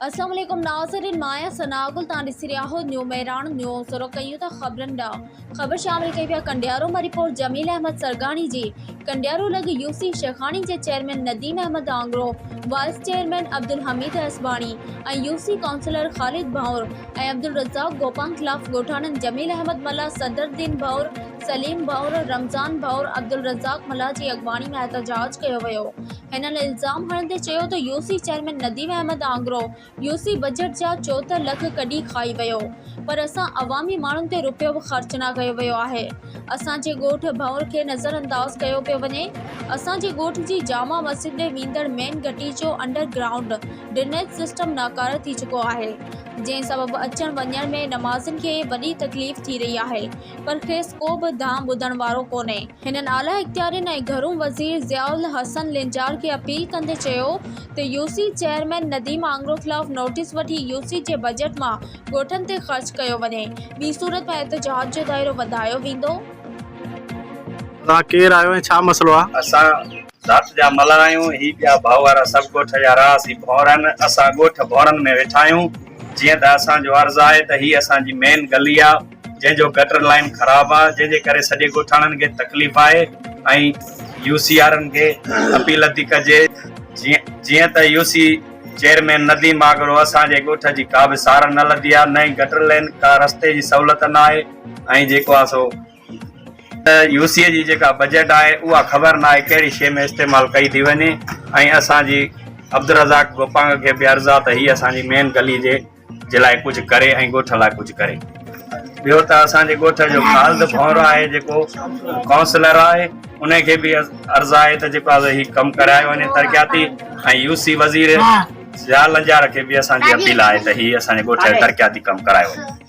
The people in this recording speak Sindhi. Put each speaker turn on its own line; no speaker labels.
اسلام عليڪم ناظرين مان آهيان ثناء گل توهان ڏسي رهيا آهيو نيو مهراڻ نيوز رخ ڪيون ٿا خبرن ڏانهن خبر شامل ڪئي وئي آهي ڪنڊيارو مان رپورٽ جميل احمد سرگاڻي جي ڪنڊيارو لڳ يو سي شيخاڻي جي chairman Nadeem Ahmed Angro vice chairman Abdul Hamid Asbani ۽ U C councillor Khalid Bhanwar ۽ Abdulrazzaq Gopang خلاف ڳوٺاڻن جميل احمد ملاح صدرالدين ڀنور سليم ڀنور رمضان ڀنور عبدالرزاق ملاح جي اڳواڻي ۾ احتجاج ڪيو ويو هنن الزام هڻندي چيو ته U C chairman Nadeem Ahmed Angro U C budget جا چوهتر لک ڪڍي کائي ويو پر اسان عوامي ماڻهن تي رپيو به خرچ نه ڪيو ويو آهي اسان جي ڳوٺ ڀنور کي نظر انداز ڪيو پيو وڃي اسان جي ڳوٺ جي جامع مسجد ڏي ويندڙ مين گهٽي جو انڊر گرائونڊ ڊرنيج سسٽم ناڪاره ٿي چڪو آهي جنهن سبب اچڻ وڃڻ ۾ نمازين کي وڏي تڪليف ٿي رهي آهي پر کيس ڪو به دانهن ٻڌڻ وارو ڪونهي. هنن اعليٰ اختيارين ۽ گهرو وزير ضياء الحسن لنجار کي اپيل ڪندي چيو ته U C chairman Nadeem Angro خلاف نوٽيس وٺي يو سي جي بجيٽ مان ڳوٺن تي خرچ ڪيو وڃي ٻي صورت ۾ احتجاج جو دائرو وڌايو ويندو. توهان
ڪير آهيو ۽ ڇا مسئلو آ؟ اسان ذات
جا ملهه آهيون، هي ٻيا ڀائو وارا سڀ ڳوٺ جا رهاسي ڀونرن، اسان ڳوٺ ڀونرن ۾ ويٺا آهيون، جيئن ته اسان جو عرض آهي ته هي اسان جي مين گلي آ، جنهن جو گٽر لائين خراب آ جنهن جي ڪري سڄي ڳوٺاڻن کي تڪليف آهي ۽ يو سي آرن کي اپيل ٿي ڪجي جيئن ته U C chairman Nadeem Agro اسان جي ڳوٺ جي ڪا به سار نه لڌي آ نه ئي گٽر لين ڪا رستي جي سهولت نه آهي ۽ جيڪو آ سو يو سي جي جيڪا بجيٽ آهي اها خبر نه آهي ڪهڙي شي ۾ استعمال ڪئي ٿي وڃي ۽ اسان جي عبدالرزاق گوپانگ کي به عرض آ ته هي اسان جي مين گلي جي جي لاء ڪجهه ڪري ۽ ڳوٺ لاء ڪجهه ڪري ٻيو ته اسان جي ڳوٺ جو خالد ڀونر آهي جيڪو ڪائونسلر آهي ان کي به عرض آهي ته جيڪو آهي هي ڪم ڪرايو وڃي ترقياتي ۽ يو سي وزير ضياء لنجار کي به اسان جي اپيل آهي ته هي اسان جي ڳوٺ جو ترقياتي ڪم ڪرايو وڃي